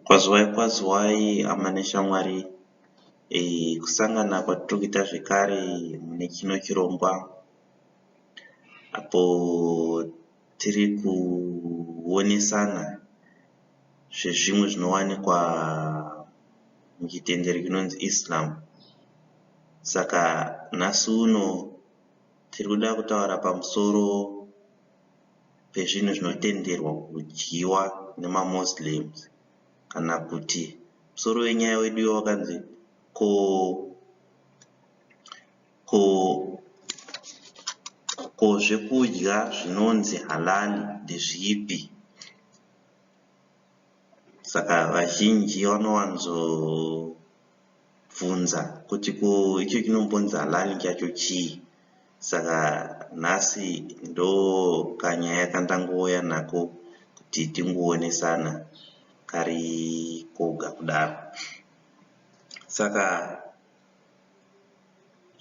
Kwaziwai kwaziwai hama neshamwari eh, kusangana kwatiri kuita zvekare mune chino chirongwa apo tiri kuonesana zvezvimwe zvinowanikwa muchitendero chinonzi Islam. Saka nhasi uno tiri kuda kutaura pamusoro pezvinhu zvinotenderwa kudyiwa nemaMuslims kana kuti musoro wenyaya wedu wakanzi ko Ko ko zvekudya zvinonzi halali ndezvipi? Saka vazhinji vanowanzobvunza kuti ko icho chinombonzi halali chacho chii? Saka nhasi ndokanyaya kandangouya nako kuti tingoonesana kari koga kudaro. Saka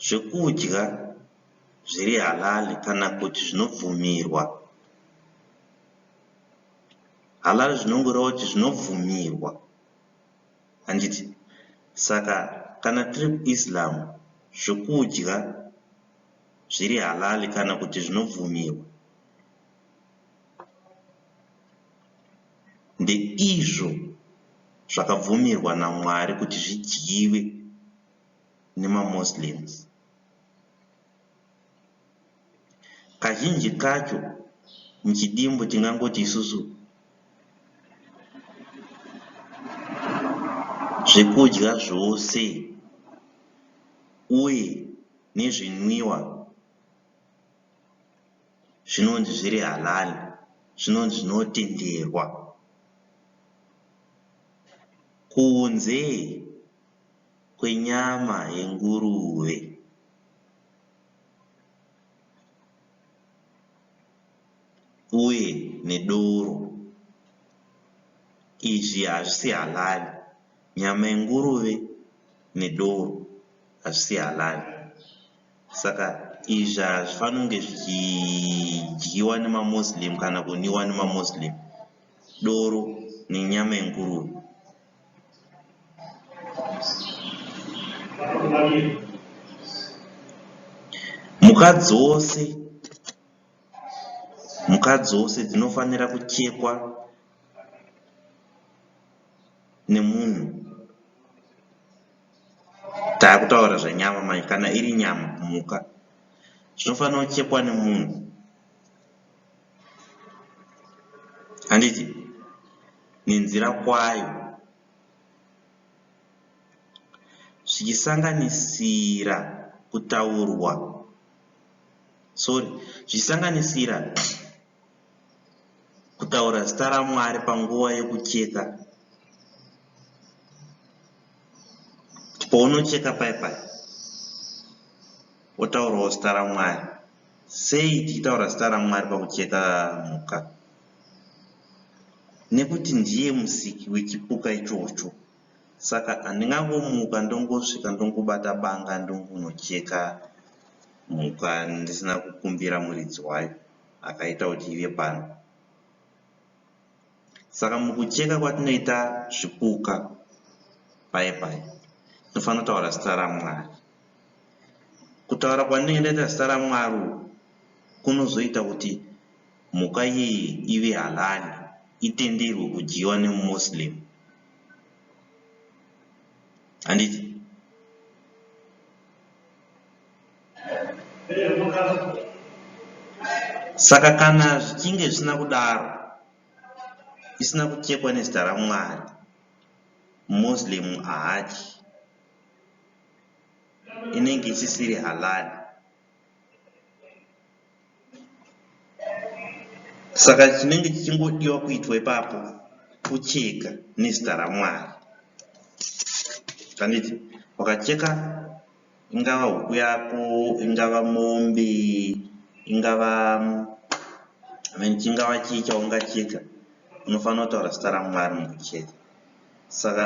zvekudya zviri halali kana kuti zvinobvumirwa. Halali zvinongoreva kuti zvinobvumirwa handiti? Saka kana tiri kuIslam zvekudya zviri halali kana kuti zvinobvumirwa. ndeizvo zvakabvumirwa naMwari kuti zvidyiwe nemaMoslems. Kazhinji kacho muchidimbu tingangoti isusu zvekudya zvose uye nezvinwiwa zvinonzi zviri halal zvinonzi zvinotenderwa kunze kwenyama yenguruve. Uye nedoro izvi hazvisi halal nyama yenguruve nedoro hazvisi halal. Saka izvi hazvifaniri kunge zvichidyiwa nemaMuslim kana kuniwa nemaMuslim, doro nenyama yenguruve. Mhuka dzose mhuka dzose dzinofanira kuchekwa nemunhu Takutaura zvenyama manje kana iri nyama mhuka zvinofanira kuchekwa nemunhu handiti nenzira kwayo zvichisanganisira kutaurwa sorry zvichisanganisira Kutaura zita raMwari panguva yokucheka. Pounocheka paye paye wotaurawo zita raMwari. Sei tichitaura zita raMwari pakucheka mhuka? Nekuti ndiye musiki wechipuka ichocho. Saka handingangomuka ndongosvika ndongobata banga ndongonocheka mhuka ndisina kukumbira muridzi wayo. akaita kuti ive pano. Saka mukucheka kwatinoita zvipuka paye paye tinofanira kutaura zita raMwari. Kutaura kwandinenge ndaita zita raMwari uku kunozoita kuti mhuka iyi ive halali, itenderwe kudyiwa nemuMuslim. Handiti? Saka kana zvichinge zvisina kudaro, isina kuchekwa nezita raMwari, Muslim haadyi, inenge isisiri halal. Saka chinenge chichingodiwa kuitwa ipapo kucheka nezita raMwari. Handiti? Wakacheka. ingava huku yako ingava mombe ingava mean chingava chii chaungachiita unofanira kutaura zita ramwari munhu chete saka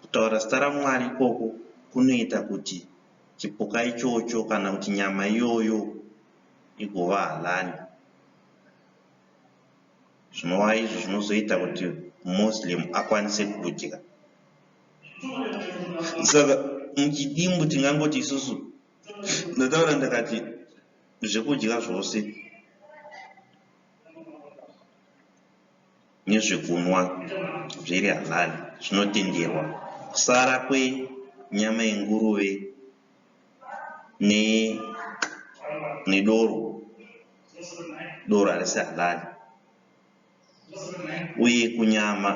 kutaura zita ramwari ikoko kunoita kuti chipuka ichocho kana kuti nyama iyoyo igova halali zvinova izvo zvinozoita kuti muslim akwanise kudya saka muchidimbu tingangoti isusu ndataura ndakati zvekudya zvose nezvekunwa zviri halali zvinotenderwa kusara kwenyama yenguruve ne nedoro doro harisi halali uye kunyama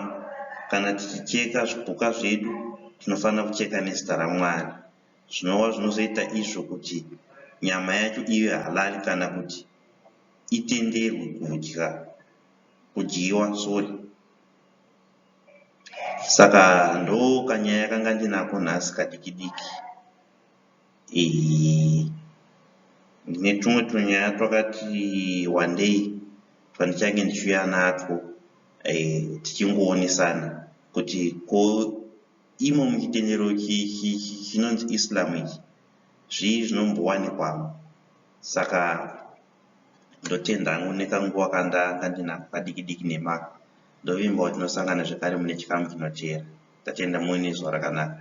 kana tichicheka zvipuka zvedu tinofanira kucheka nezita ramwari zvinova zvinozoita izvo kuti nyama yacho ive halali kana kuti itenderwe kudya kudyiwa sorry Saka ndokanyaya kanga ndinako nhasi kadiki diki. Ndine tumwe tunyaya twakati wandei twandichange ndichiuya natwo tichingoonesana kuti ko imo muchitendero chinonzi Islam ichi zvii zvinombowanikwa. Saka. Ndotenda hangu nekanguva kandanga ndinako kadiki diki nemako. Ndovimbawo tinosangana zvekare mune chikamu chinoteera. Tatenda muve nezuva rakanaka.